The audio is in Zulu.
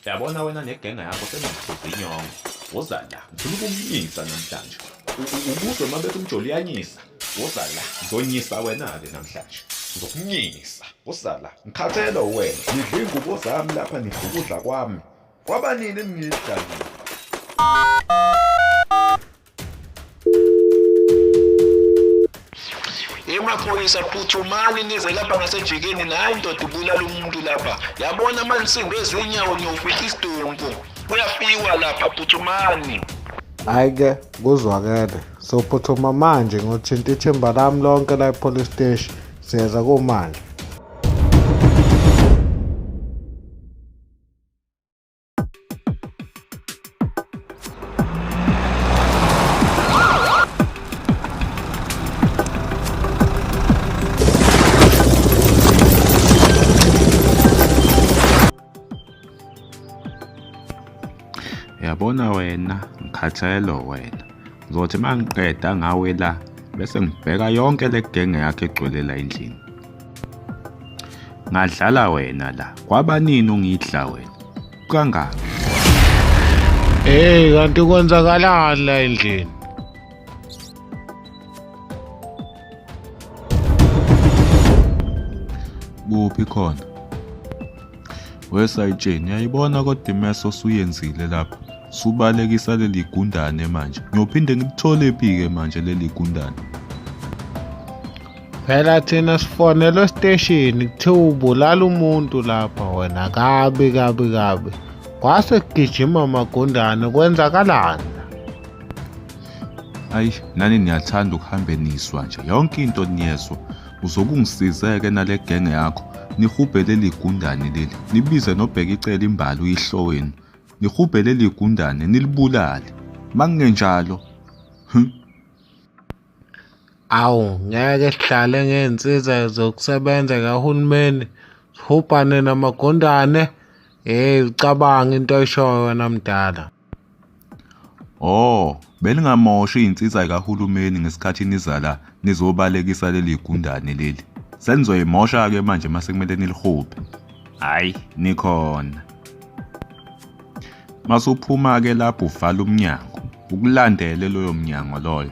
yabona wena negenge yakho seningiphuza inyongo woza la ngifuna ukumnyisa namhlanje ubuzwe uma bethi umjoli uyanyisa woza la ngizonyisa wena-ke namhlanje ngizokunyisa woza la ngikhathele wena nidla iy'ngubo zami lapha nidla ukudla kwami Kwaba nini ningidlalile? emaphoyisa phuthumani nize lapha ngasejikeni nayi ndoda ubulala umuntu lapha yabona amansimbi ezinyawo niyofica isidumbu kuyafiwa lapha phuthumani hhayi-ke kuzwakele sophuthuma manje ngothinta ithimba lami lonke la epolice steshi siyeza kumanje Yabona wena ngikhathelo wena ngizothi mangiqeda ngawe la bese ngibheka yonke legenge yakhe egcwele la endlini. ngadlala wena la kwabanini ungidla wena kangaka hey kanti kwenzakalani la endlini kuphi khona wesayitsheni yayibona kodwa imeso osuyenzile lapha subalekisa leli gundane manje ngiyophinde ngilithole phi-ke manje leli gundane phela thina sifonelwe esiteshini kuthiwa ubulala umuntu lapha wena kabi kabi kabi kwase kugijima amagundane kwenzakalani ayi nani niyathanda ukuhambe niswa nje yonke into niyezwa uzokungisizeke nale genge yakho nihubhe leli gundane leli nibize nobheka icela imbali uyihlo wenu nihubhe leli gundane nilibulale makungenjalo Awu ngeke sihlale ngey'nsiza zokusebenza kahulumeni sihubhane namagundane. Hheyi ucabanga into oyishoyo wena mdala. Oh, belingamoshi iy'nsiza y'kahulumeni ngesikhathi niza la nizobalekisa leli gundane leli. Senizoyimosha-ke manje uma sekumele nilihubhe. Hhayi, nikhona. Masuphuma-ke lapho uvala umnyango. ukulandele loyo mnyango loyo